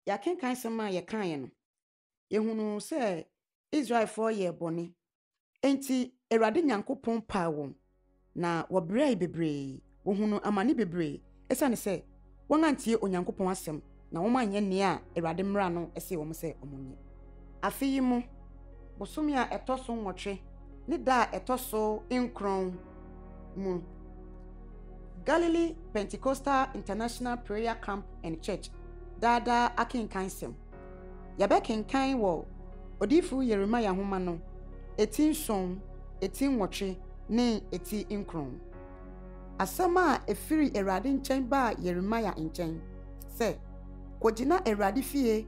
Yɛakenkan asɛm a yɛkaeɛ no, yɛhunuu sɛ Israelfoɔ yɛɛ bɔne. Enti Awurade Nyankopɔn paa wɔn, na wɔbrɛɛe bebree, wɔhunuu amane bebree ɛsiane sɛ wɔantie Onyankopɔn asɛm na wɔanyɛ nea Awurade mmara no se wɔn sɛ wɔnyɛ. Afe yi mu bosome a ɛtɔ so nwɔtwe ne da a ɛtɔ so nkron mu, Galilee Pentecostal International Prayer Camp and Church Daa Daa Akenkansɛm. Yɛbɛkenkan wɔ Odiyifo Yeremia nhoma no eti nson, eti nwɔtwe, ne eti nkron. Asɛm a efiri Awurade nkyɛn baa Yeremia nkyɛn sɛ, Kogyina Awurade fie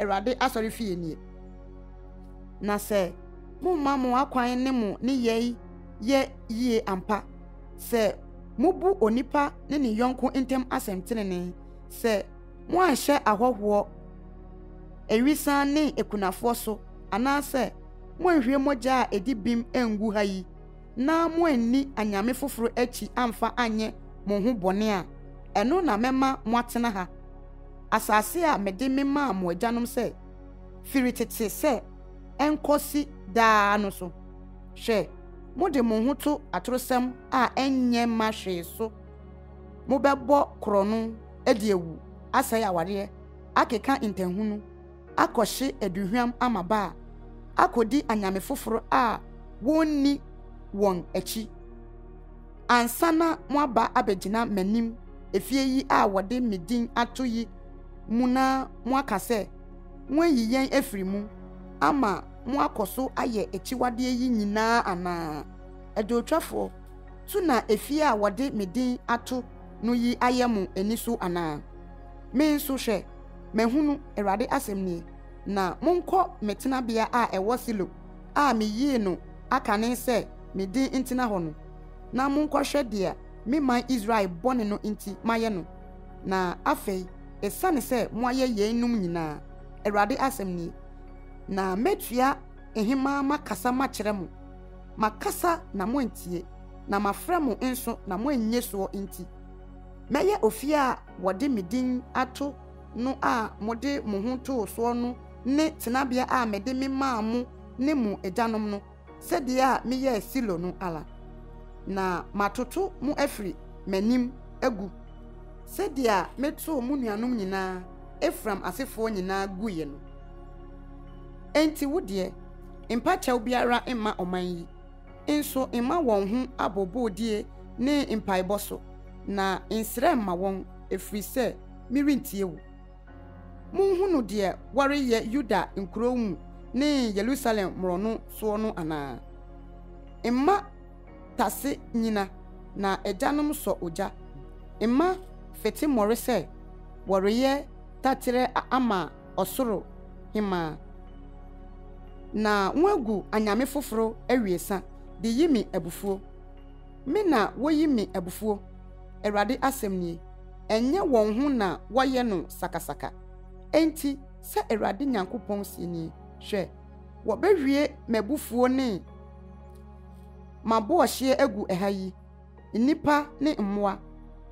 Awurade asɔrefie nie. Na sɛ momma mo akwan ne mo nneyɛe yɛ yie ampa, sɛ mobu onipa ne ne yɔnko ntam asɛm tenenee, sɛ moanhyɛ ahɔhoɔ, awisan ne akunafoɔ so, anaasɛ moanhwie mogya a ɛdi bem angu ha yi, na moanni anyame foforo akyi amfa anyɛ mo ho bɔne a, ɛno na mɛma moatena ha. asase a mede memaa mo agyanom sɛ, firi tete sɛ ɛnkɔsi daa no so. Hwɛ, mode mo ho to atorosɛm a ɛnyɛ mma hwee so. Mobɛbɔ korɔno, adi awu, asɛe awareɛ, akeka ntahunu, akɔhye aduhwam amaba a akodi anyame foforo a wonni wɔn akyi. Ansa na moaba abegyina m'anim efie yi a wɔde me din ato yi mu na moaka sɛ, 'Moayi yɛn afiri mu' ama moakɔ so ayɛ akyiwadeɛ yi nyinaa anaa? Adwowtwafoɔ, so na efie a wɔde me din ato no yi ayɛ mo ani so anaa? Me nso, hwɛ! Mahunu, Awurade asɛm nie, na monkɔ me tenabea a ɛwɔ Silo a meyii no akane sɛ me din ntena hɔ no, na monkɔhwɛ deɛ me man Israel bɔne no nti mayɛ no. Na afei, ɛsiane sɛ moayɛ yeinom nyinaa, Awurade asɛm nie, na mɛtua hemaa makasa makyerɛ mo, makasa na moantie, na mafrɛ mo nso na moannye soɔ nti, Mɛyɛ ofie a wɔde me din ato no a mode mo ho too soɔ no ne tenabea a mede me maa mo ne mo agyanom no, sɛdeɛ a meyɛɛ Silo no ara. Na matoto mo afiri m'anim agu, sɛdeɛ a metoo mo nuanom nyina ara, Efraim asefoɔ nyina ara guiɛ no. Enti wo deɛ, mpa kyɛw biara mma ɔman yi. nso mma wɔn ho abooboodeɛ ne mpaebɔ so, na nsrɛ mma wɔn, ɛfiri sɛ merentie wo. Monhunu deɛ wɔreyɛ Yuda nkuro mu ne Yerusalem mmorɔno soɔ no anaa? Mma tase nnyina, na agyanom sɔ ogya, mma fete mmɔre sɛ wɔreyɛ taterɛ ama ɔsoro hemmaa. Na wɔagu anyame foforo awiesa de yi me abufuo. Me na wɔyi me abufuo, Awurade asɛm nie. Ɛnyɛ wɔn ho na wɔyɛ no sakasaka. Enti, sɛ Awurade Nyankopɔn seɛ nie, Hwɛ, wɔbɛhwie m'abufuo ne m'abɔɔhyeɛ agu ɛha yi, nnipa ne mmoa,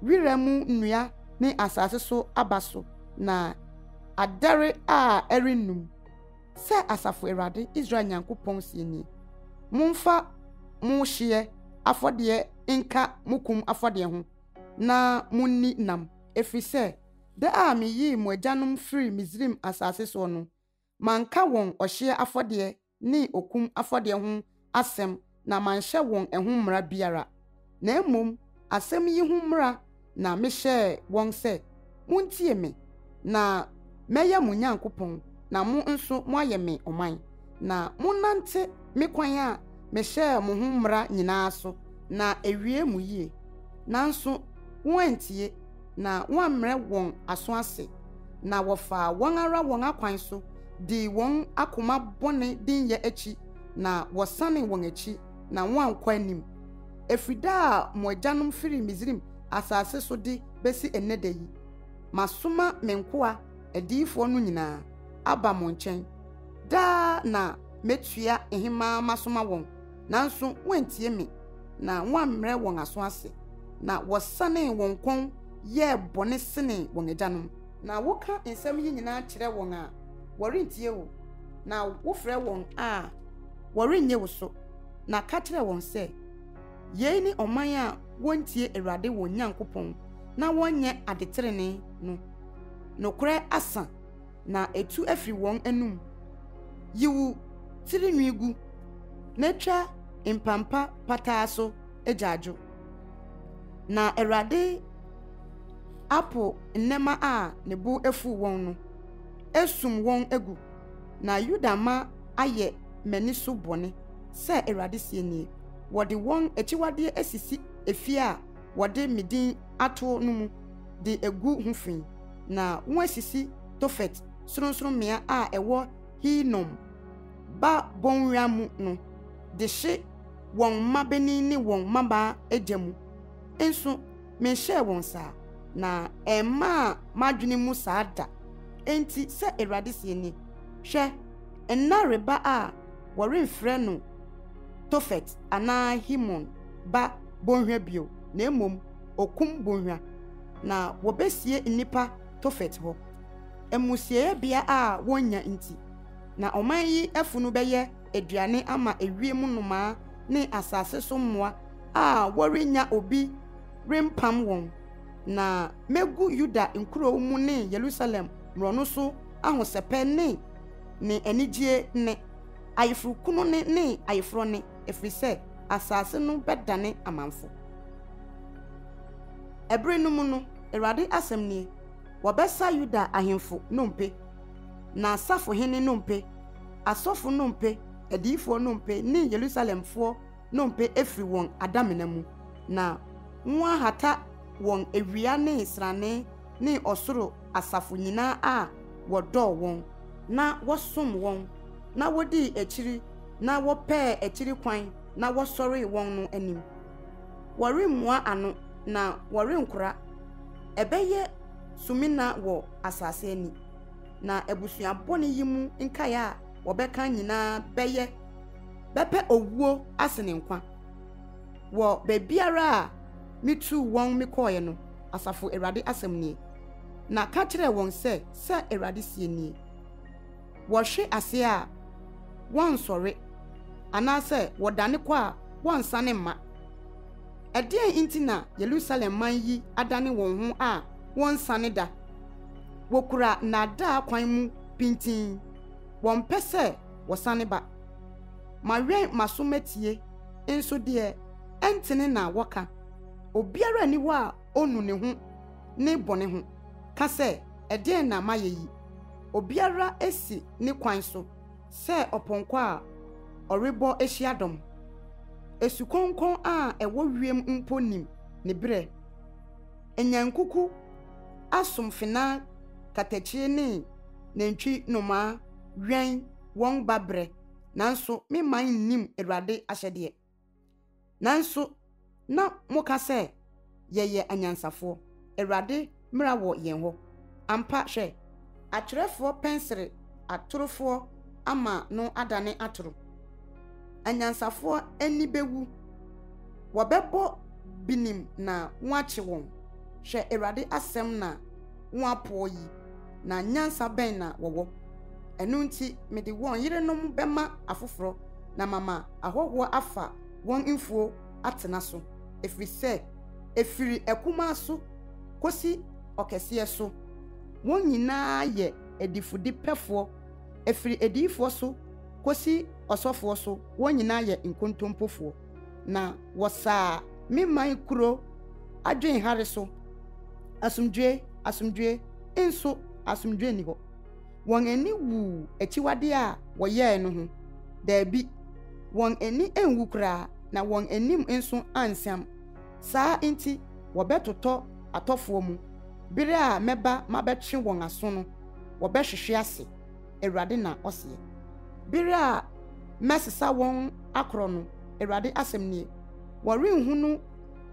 wira mu nnua ne asase so aba so na adɛre a ɛrennum, sɛ Asafo Awurade, Israel Nyankopɔn seɛ nie. Momfa mo hyeɛ afɔdeɛ nka mo kum afɔdeɛ ho, na monni nam, ɛfiri sɛ da a meyii mo agyanom firii Misraim asase soɔ no, Manka wɔn ɔhyeɛ afɔdeɛ ne okum afɔdeɛ ho asɛm na manhyɛ wɔn ɛho mmara biara, na mmom asɛm yi ho mmara na mehyɛɛ wɔn sɛ, Montie me, na mɛyɛ mo Nyankopɔn, na mo nso moayɛ me ɔman, na monnante me kwan a mehyɛɛ mo ho mmara nyinaa so, na ɛwie mo yie. Nanso wɔantie. na wɔammrɛ wɔn aso ase, na wɔfaa wɔn ara wɔn akwan so dii wɔn akoma bɔne dinyɛ akyi, na wɔsanee wɔn akyi, na wɔankɔ anim, ɛfiri da a mo agyanom firii Misraim asase so de bɛsi ɛnnɛ da yi. Masoma me nkoa adiyifoɔ no nyinaa aba mo nkyɛn. Daa na mɛtua hemaa masoma wɔn. nanso wɔantie me na wɔammrɛ wɔn aso ase, na wɔsanee wɔn kɔn yɛɛ bɔne senee wɔn agyanom. Na woka nsɛm yi nyinaa kyerɛ wɔn a, wɔrentie wo, na wofrɛ wɔn a, wɔrennye wo so. Na ka kyerɛ wɔn sɛ, 'Yei ne ɔman a wɔntie Awurade wɔn Nyankopɔn na wɔnyɛ adetrenee no. Nokorɛ asa. na etu afi wɔn anom, yiw, tiri nwi gu, na etwa mpampa pataa so agyaadwo. Na Awurade apo nnɛmma a ne bo afuw wɔn no, asum wɔn agu, na Yuda mma ayɛ m'ani so bɔne, sɛ Awurade seɛ nie, wɔde wɔn akyiwadeɛ asisi efie a wɔde me din ato no mu de agu ho fi. na wɔasisi Tofet sorɔnsorɔmmea a ɛwɔ Hinom ba bɔnwira mu no de hye wɔn mmabanin ne wɔn mmabaa gya mu. Nso menhyɛɛ wɔn saa, na ɛmmaa m'adwene mu saa da. Enti sɛ Awurade seɛ nie, Hwɛ, nna reba a wɔremfrɛ no Tofet anaa Hinom ba bɔnhwa bio, na mmom Okum Bɔnhwa, na wɔbɛsie nnipa Tofet hɔ. Amusiiɛ bea a wɔnnya nti, na ɔman yi afunu bɛyɛ aduane ama ewiem nnomaa ne asase so mmoa a wɔrennya obi rempam wɔn, na mɛgu Yuda nkuro mu ne Yerusalem mmorɔno so ahosɛpɛ ne ne anigyeɛ nne, ayeforokunu nne ne ayeforɔ nne. ɛfiri sɛ asase no bɛdane amamfo. Ɛbere no mu no, Awurade asɛm nie, wɔbɛsa Yuda ahemfo nnompe, n'asafohene nnompe, asɔfo nnompe, adiyifoɔ nnompe ne Yerusalemfoɔ nnompe afiri wɔn adamena mu, na wɔahata wɔn awia ne srane ne ɔsoro asafo nyinaa a wɔdɔɔ wɔn, na wɔsom wɔn, na wodii akyiri na wɔpɛɛ akyiri kwan na wɔsɔree wɔn no anim. Wɔremmua ano na wɔrenkora. Ɛbɛyɛ sumina wɔ asase ani, na abusua bɔne yi mu nkae a wɔbɛka nyinaa bɛyɛ bɛpɛ owuo asene nkwa. wɔ baabiara a mituu wɔn me kɔɔɛ no, Asafo Awurade asɛm nie. Na ka kyerɛ wɔn sɛ, 'Sɛ Awurade seɛ nie, Wɔhwe aseɛ a, wɔnsɔre, anaasɛ wɔdane kɔ a, wɔnsane mma. Ɛdeɛn nti na Yerusalem man yi adane wɔn ho a wɔnsane da? Wɔkura nnaadaa kwan mu pintinn, wɔmpɛ sɛ wɔsane ba. Mawɛn m'aso matie Nso deɛ ɛntene na wɔka, obiara nni hɔ a ɔnu ne ho ne bɔne ho, ka sɛ, Ɛdeɛn na mayɛ yi? Obiara si ne kwan so sɛ ɔpɔnkɔ a ɔrebɔ hyiadɔm. Asukɔnkɔn a ɛwɔ wiem mpo nim ne berɛ. Anyankuku asomfena katakyie ne nantwi nnomaa wɛn wɔn ba berɛ. nanso me man nnim Awurade ahyɛdeɛ. Nanso na moka sɛ, 'Yɛyɛ anyansafoɔ. Awurade mmara wɔ yɛn hɔ. Ampa, hwɛ! Atwerɛfoɔ pɛnsere atorofoɔ ama no adane atoro. Anyansafoɔ ani bɛwu. Wɔbɛbɔ binim na wɔakye wɔn. Hwɛ, Awurade asɛm na. ho apoɔ yi, na nyansa bɛn na wɔwɔ? Ɛno nti, mede wɔn yerenom bɛma afoforɔ, na mama ahɔhoɔ afa wɔn mfuo atena so, ɛfiri sɛ ɛfiri akumaa so kɔsi ɔkɛseɛ so, wɔn nyinaa yɛ adifudepɛfoɔ, ɛfiri adiyifoɔ so kɔsi ɔsɔfoɔ so wɔn nyinaa yɛ nkontompofoɔ. na wɔsaa me man kuro adwen hare so. Asomdwoe, asomdwoe, nso asomdwoe nni hɔ. Wɔn ani wuu akyiwadeɛ a wɔyɛe no ho? Daabi, wɔn ani anwu koraa, na wɔn anim nso ansiam. Saa nti wɔbɛtotɔ atɔfoɔ mu. Berɛ a mɛba mabɛtwe wɔn aso no, wɔbɛhwehwe ase. Awurade na ɔseɛ. Bere a mɛsesa wɔn akorɔ no, Awurade asɛm nie, wɔrenhunu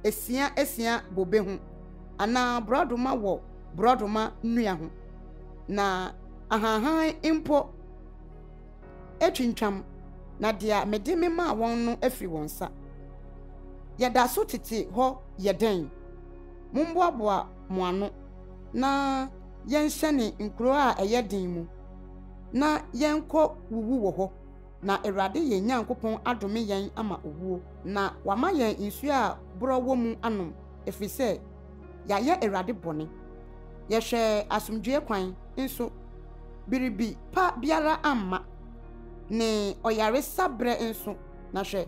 esia esia bobe ho, anaa borɔdoma wɔ borɔdoma nnua ho, na ahanhan mpo atwintwam, na deɛ mede me maa wɔn no afiri wɔn nsa. Yɛda so tete hɔ yɛ dɛn? Mommoaboa mo ano na yɛnhyɛne nkuro a ɛyɛ den mu, na yɛnkɔ wuwu wɔ hɔ, na Awurade yɛn Nyankopɔn adome yɛn ama owuo, na wama yɛn nsuo a borɔ wɔ mu anom, ɛfiri sɛ yɛayɛ Awurade bɔne. Yɛhwɛɛ asomdwoeɛ kwan nso, biribi pa biara amma, ne ɔyaresa berɛ nso, na hwɛ,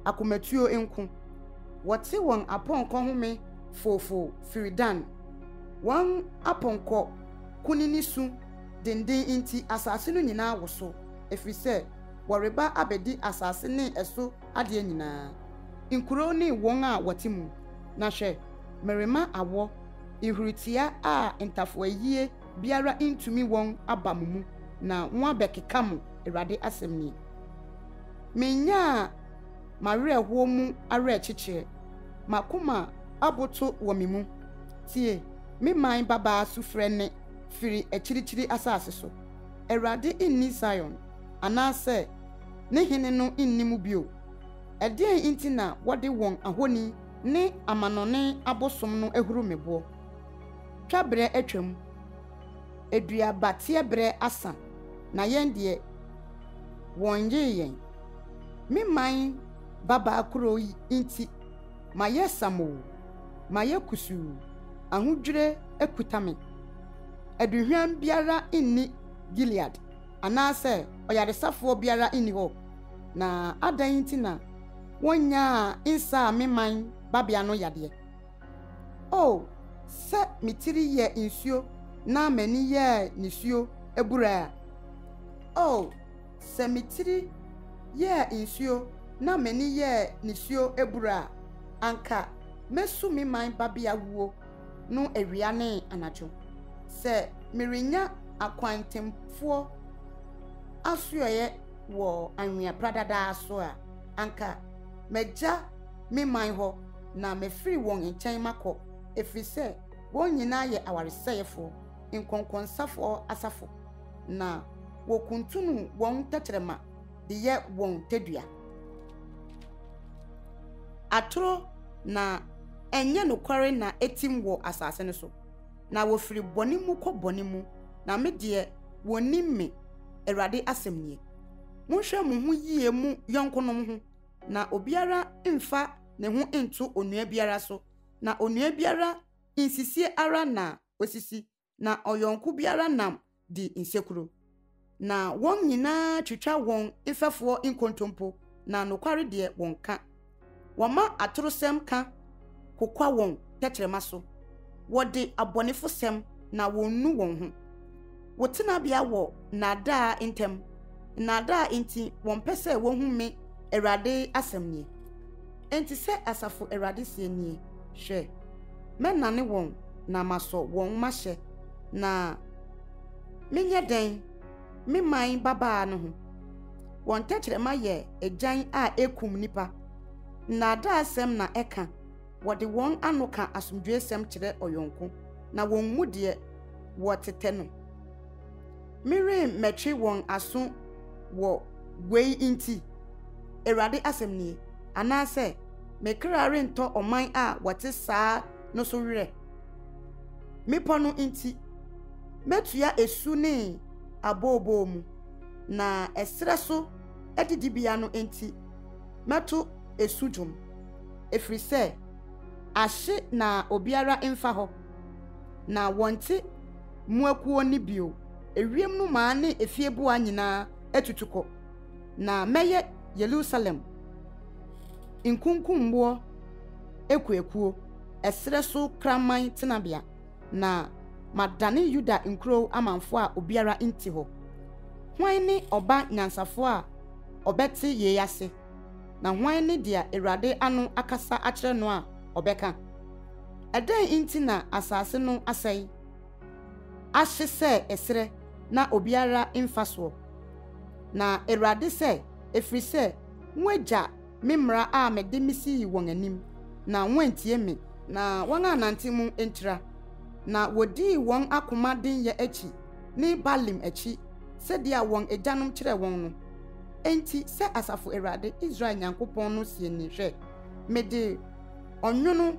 akomatuo nko. Wɔte wɔn apɔnkɔ home foofoo firi Dan. Wɔn apɔnkɔ kunini su dennen nti, asase no nyinaa woso, ɛfiri sɛ wɔreba abɛdi asase ne ɛso adeɛ nyinaa, nkuro ne wɔn a wɔte mu. Na hwɛ, merema awɔ, nhuritia a ntafoayie biara ntumi wɔn aba mo mu, na moabɛkeka mo, Awurade asɛm nie. Mennyaa. M'awerɛhoɔ mu awerɛkyekyerɛ. M'akoma aboto wɔ me mu. Tie me man babaa sufrɛ nne firi akyirikyiri asase so. Awurade nni Sion, anaasɛ ne Hene no nni mu bio. Ɛdeɛn nti na wɔde wɔn ahoni ne amanɔne abosom no ahuru me boɔ? Twaberɛ atwam. Aduabateɛ berɛ asa na yɛn deɛ wɔnyee yɛn. Me man babaa kuro yi nti mayɛ samoo, mayɛ kusuu, ahodwire akuta me. Aduhwam biara nni Gilead anaasɛ ɔyaresafoɔ biara nni hɔ, na adɛn nti na wɔnnyaa nsaa me man babea no yadeɛ? O, sɛ me tiri yɛ nsuo na m'ani yɛ nisuo abura a! O, sɛ me tiri yɛ nsuo na m'ani yɛ nisuo abura a, anka mɛsu me man babea wuo no awia ne anadwo, sɛ merenya akwantempfoɔ asoɛeɛ wɔ anwea pradadaa so a, anka magya me man hɔ, na mefiri wɔn nkyɛn makɔ, ɛfiri sɛ wɔn nyinaa yɛ awaresɛefoɔ, nkɔnkɔnsafoɔ asafo, na wɔkuntunu wɔn tɛkyerɛma de yɛ wɔn tadua. Atorɔ na ɛnyɛ nokware na ɛtim wɔ asase no so, na wɔfiri bɔne mu kɔ bɔne mu, na me deɛ, wɔnnim me, Awurade asɛm nie. Monhwɛ mo ho yie mo yɔnkonom ho. Na obiara mfa ne ho nto onua biara so, na onua biara nsisie ara na osisi, na ɔyɔnko biara nam di nsekuro. Na wɔn nyinaa twitwa wɔn mfɛfoɔ nkontompo, na nokware deɛ wɔnka. Wɔma atorosɛm ka kokwa wɔn tɛkyerɛma so, wɔde abɔnefosɛm na wɔnnu wɔn ho. Wo tenabea wɔ nnaadaa ntam, nnaadaa nti wɔmpɛ sɛ wɔhu me, Awurade asɛm nie. Enti sɛ asafo Awurade seɛ nie, Hwɛ, mɛnane wɔn na masɔ wɔn mahyɛ, na menyɛ dɛn me man babaa no ho? Wɔn tɛkyerɛma yɛ agyan a ɛkum nnipa. Nnaadaasɛm na ɛka, wɔde wɔn ano ka asomdwoesɛm kyerɛ ɔyɔnko, na wommu deɛ wɔtetɛ no. Meremmɛtwe wɔn aso wɔ wei nti, Awurade asɛm nie, anaasɛ me kra rentɔ ɔman a wɔte saa no so werɛ. Mmepɔ no nti, mɛtua esu ne abooboo mu, na ɛserɛ so adidibea no nti, Mɛto ɛsu dwom, ɛfiri sɛ ahye na obiara mfa hɔ, na wɔnte mo akuo nne bio. Ewiem nnomaa ne efieboa nyinaa atutu kɔ, na mɛyɛ Yerusalem nkunkumboɔ akuakuo, ɛserɛ so kraman tenabea. na madane Yuda nkurow amamfo a obiara nte hɔ. Hwan ne ɔba nyansafo a ɔbɛte yei ase, na hwan ne deɛ Awurade ano akasa akyerɛ no a ɔbɛka? Ɛdɛn nti na asase no asɛe, ahye sɛ ɛserɛ na obiara mfa soɔ? Na Awurade sɛ, Ɛfiri sɛ moagya me mmara a mede me sii wɔn anim, na wɔantie me. Na wɔannante mu antira, na wɔdii wɔn akoma denyɛ akyi ne Baalim akyi, sɛdeɛ wɔn agyanom kyerɛɛ wɔn no. Enti sɛ Asafo Awurade, Israel Nyankopɔn no seɛ nie, Hwɛ, mede ɔnwono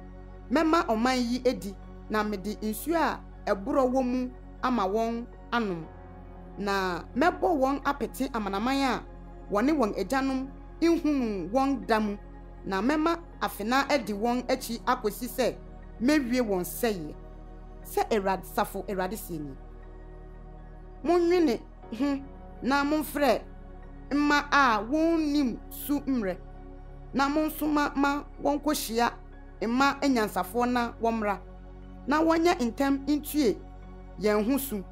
mɛma ɔman yi adi, na mede nsuo a ɛborɔ wɔ mu ama wɔn, anom, na mɛbɔ wɔn apete amanaman a wɔne wɔn agyanom nhunuu wɔn da mu, na mɛma afenaa adi wɔn akyi akosi sɛ mɛwie wɔn sɛeɛ, sɛ Awurade-safo Awurade seɛ nie. Monnwene ho na momfrɛ mma a wɔnnim su mmrɛ, na monsoma ma wɔnkɔhyia mma anyansafoɔ na wɔmmra, na wɔnyɛ ntɛm ntue yɛn ho su,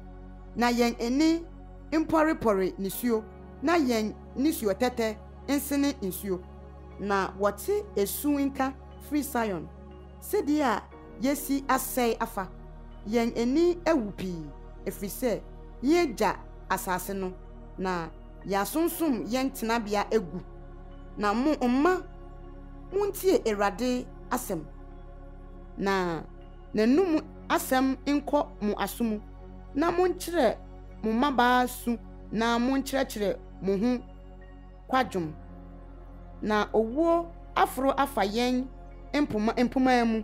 na yɛn ani mpɔrepɔre nisuo, na yɛn nisuotɛtɛ nsene nsuo. Na wɔte esu nka firi Sion, Sɛdeɛ a yɛasi asɛe afa! Yɛn ani awu pii, ɛfiri sɛ yɛagya asase no, na yɛasonsom yɛn tenabea agu. Na mo mma, montie Awurade asɛm, na. n'anom asɛm nkɔ mo aso mu, na monkyerɛ mo mmabaa su na monkyerɛkyerɛ mo ho kwadwom. Na owuo aforo afa yɛn mpoma mpomaa mu,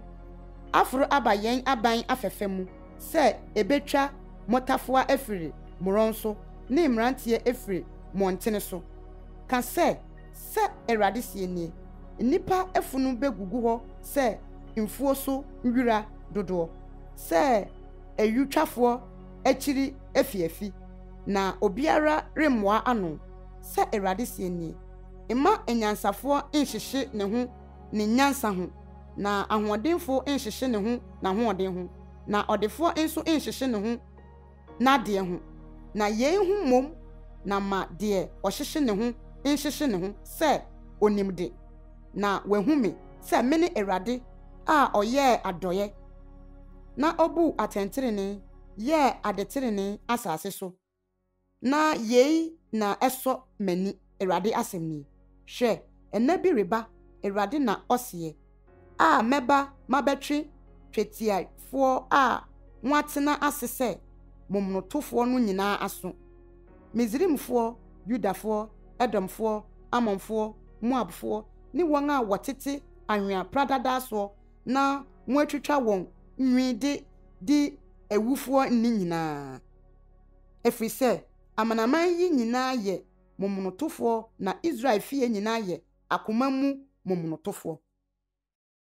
aforo aba yɛn aban afɛfɛ mu sɛ ɛbɛtwa mmotafowa afiri mmorɔn so ne mmeranteɛ afiri mmɔntene so, ka sɛ, Sɛ Awurade seɛ nie, Nnipa afunu bɛgugu hɔ sɛ mfuo so nwira dodoɔ, sɛ ayutwafoɔ akyiri afiafi, na obiara remmoa ano, sɛ Awurade seɛ nie. Mma anyansafoɔ nnhyehye ne ho ne nyansa ho, na ahoɔdenfoɔ nnhyehye ne ho n'ahoɔden ho, na ɔdefoɔ nso nnhyehye ne ho, n'adeɛ ho, na yei ho mmom na ma deɛ ɔhyehye ne ho nhyehye ne ho sɛ ɔnim de, na wahu me sɛ mene Awurade a ɔyɛɛ adɔeɛ na ɔbuu atɛntenenee yɛɛ adetenenee asase so, na yei na ɛsɔ m'ani. Awurade asɛm nie, Hwɛ, nna bi reba, Awurade na ɔseɛ, a mɛba mabɛtwe twetiafoɔ a moatena ase sɛ momonotofoɔ no nyinaa aso, Misraimfoɔ, Yudafoɔ, Edomfoɔ, Ammonfoɔ, Moabfoɔ, ne wɔn a wɔtete anwea pradadaa soɔ na moatwitwa wɔn nwi de di awufoɔ nni nyinaa, ɛfiri sɛ amanaman yi nyinaa yɛ momonotofoɔ na Israel fie nyinaa yɛ akoma mu momonotofoɔ.